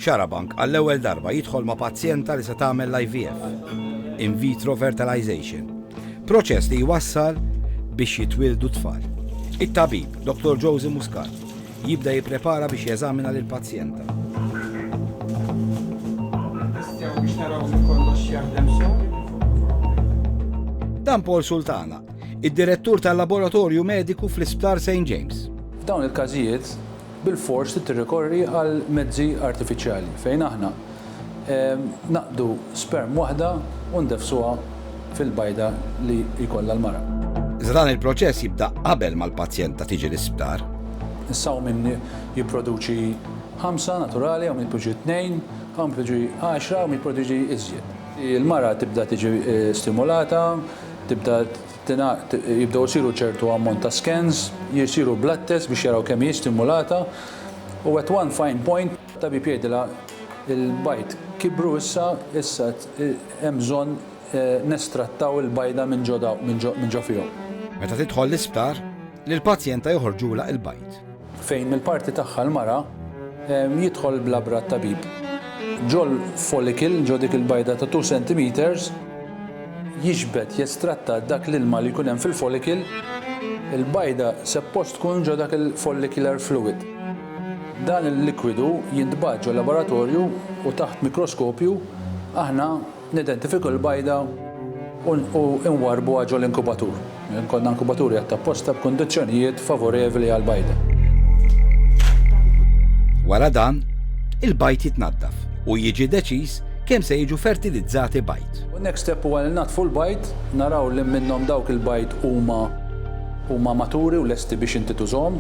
Xarabank għall-ewwel darba jidħol ma' pazjenta li se tagħmel l-IVF, in vitro fertilization, proċess li jwassal biex jitwieldu tfal. It-tabib, Dr. Josie Muscat, jibda jipprepara biex jeżamina lil pazjenta. Dan Paul Sultana, id-direttur tal-laboratorju mediku fl-Isptar St. James. F'dawn il-każijiet, bilfors trid tirrikorri għal mezzi artifiċjali fejn aħna naqdu sperm waħda u ndeffsuha fil-bajda li jkollha l-mara. Iżda dan il-proċess jibda qabel ma l-pazjenta tiġi l-isptar. Is-sawmin jipproduċi ħamsa naturali hawn jitpoġġu tnejn, hawn jitpoġġu għaxra hawn jitproduċi iżjed. Il-mara tibda tiġi stimulata, tibda tingħaqad jibdew isiru ċertu ammont ta' scans, jsiru blood tests biex jaraw kemm hi stimulata u at one fine point it-tabib jgħidilha l-bajd kibru issa, issa hemm bżonn nestrattaw il-bajda minn ġo minn ġo fihom. Meta tidħol l-isptar, lill-pazjenta joħorġulha l-bajd. Fejn mill-parti tagħha l-mara jidħol bl-abra t-tabib. Ġol follicle, ġo dik il-bajda ta' two centimetres, jiġbed, jestratta dak l-ilma li jkun hemm fil-follicle. Il-bajda seppost tkun ġo dak il-follicular fluid. Dan il-likwidu jintbagħat ġol-laboratorju u taħt mikroskopju aħna Nidentifikaw il-bajda u nwarrbuha ġol-inkubatur. Ikollna inkubatur jgħadd apposta b'kundizzjonijiet favorevli għall-bajda. Wara dan, il-bajd jitnaddaf u jiġi deċiż kemm se jiġu fertilizzati bajd. Next step huwa li nnaddfu l-bajd, naraw liem minnhom dawk il-bajd huma huma maturi u lesti biex inti tużhom.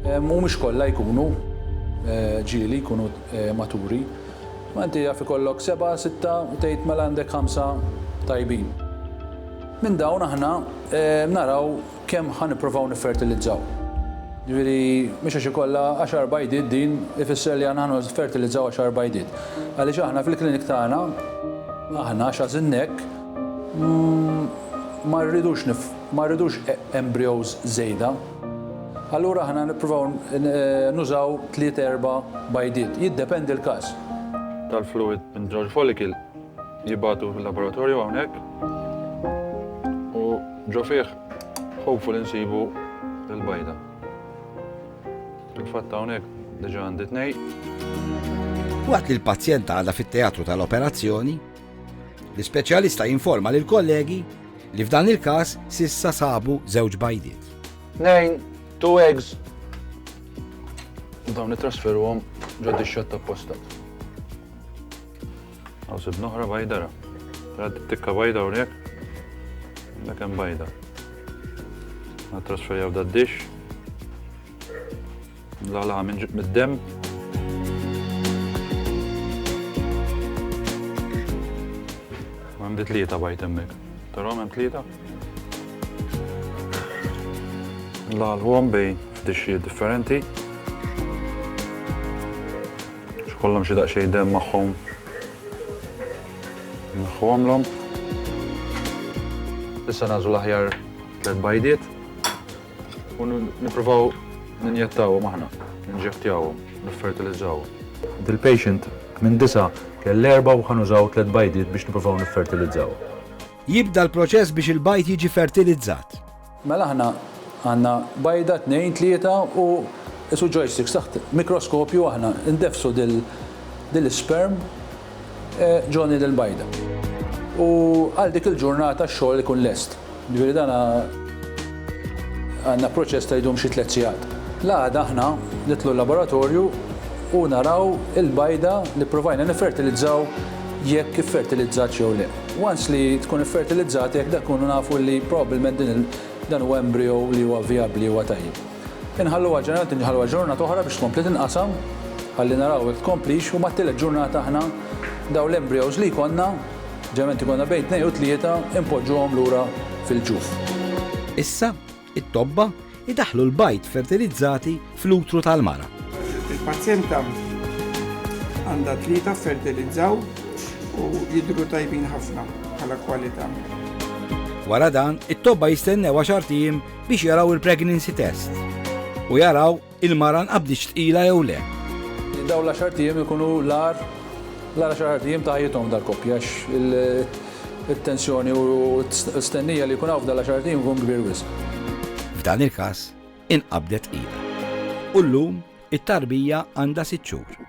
Mhumiex kollha jkunu ġieli, jkunu maturi. Ma inti jaf ikollok sebgħa, sitta u tgħid mela għandek ħamsa tajbin. Minn dawn aħna naraw kemm ħa nippruvaw niffertilizzaw. Ġifieri mhux għax ikollha għaxar bajdiet din ifisser li aħna ħa niffertilizzaw għaxar bajdiet. Għaliex aħna fil-clinic tagħna, aħna għax għażilna hekk, ma rridux ma rridux embryos żejda. Allura aħna nippruvaw nużaw tliet erba' bajdiet, jiddependi l-każ. tal-fluwid minn żewġ follicle jibgħatu fil-laboratorju hawnhekk u ġo fih hopefully nsibu l-bajda. Fil-fatt hawnhekk diġà għandi tnejn. Waqt li l-pazjenta għadha fit-teatru tal-operazzjoni, L-ispeċjalista jinforma lill-kollegi li f'dan il-każ s'issa sabu żewġ bajdiet. Nejn, two eggs. Dawn nittrasferuhom ġod ix-xatt ta' postat. Għaw sib noħra bajda ra. Rad tikka bajda hawnhekk. Dak hemm bajda. Nittrasferjaw da dish. La la minn ġib mid-dem. Għandi tlieta bajt emmek. Tara hemm tlieta? La l-għom bej f'dixxi differenti. X'kollhom xi daqsxejn dem magħhom. Nħuhomlhom. Issa nażu l-aħjar tliet bajdiet. U nippruvaw ninjettawhom aħna, ninġettjawhom, niffertilizzawhom. Dil-patient minn disa' kell erbgħa u ħa nużaw tliet bajdiet biex nippruvaw niffertilizzaw. Jibda l-proċess biex il-bajd jiġi fertilizzat. Mela aħna għandna bajda, tnejn, tlieta u qisu joysticks taħt mikroskopju aħna ndeffsu din l-isperm. Johnny Del Bajda. U għal dik il-ġurnata x-xogħol ikun lest. Ġifieri dan għandna proċess ta' jdum xi tliet sigħat. L-għada aħna nidħlu l-laboratorju u naraw il-bajda li pprovajna niffertilizzaw jekk iffertilizzatx jew le. Once li tkun iffertilizzat hekk dak inkunu nafu li probabbilment din dan huwa embrio li huwa vijabbli huwa tajjeb. Inħalluha ġeneralment inħalluha ġurnata oħra biex tkompli tinqasam ħalli naraw jekk tkomplix u mat-tielet ġurnata aħna dawn l-embryos li jkollna, ġeneralment ikollna bejn tnejn u tlieta, inpoġġuhom lura fil-ġuf. Issa, it-tobba jdaħħlu l-bajd fertilizzati fl-utru tal-mara. Il-pazjenta għandha tlieta ffertilizzaw u jidhru tajbin ħafna bħala kwalità. Wara dan, it-tobba jistennew għaxart ijiem biex jaraw il-pregnancy test u jaraw il-mara nqabditx tqila jew le. Daw l-għaxar tiem ikunu l-ar l-għaxar tiem ta' ħajjithom dal-koppja it-tensjoni u stennija li jkun hawn f'dan l-għaxar tiem ikun kbir wisq. F'dan il-każ inqabdet tqila. U llum It-tarbija għandha sitt xhur.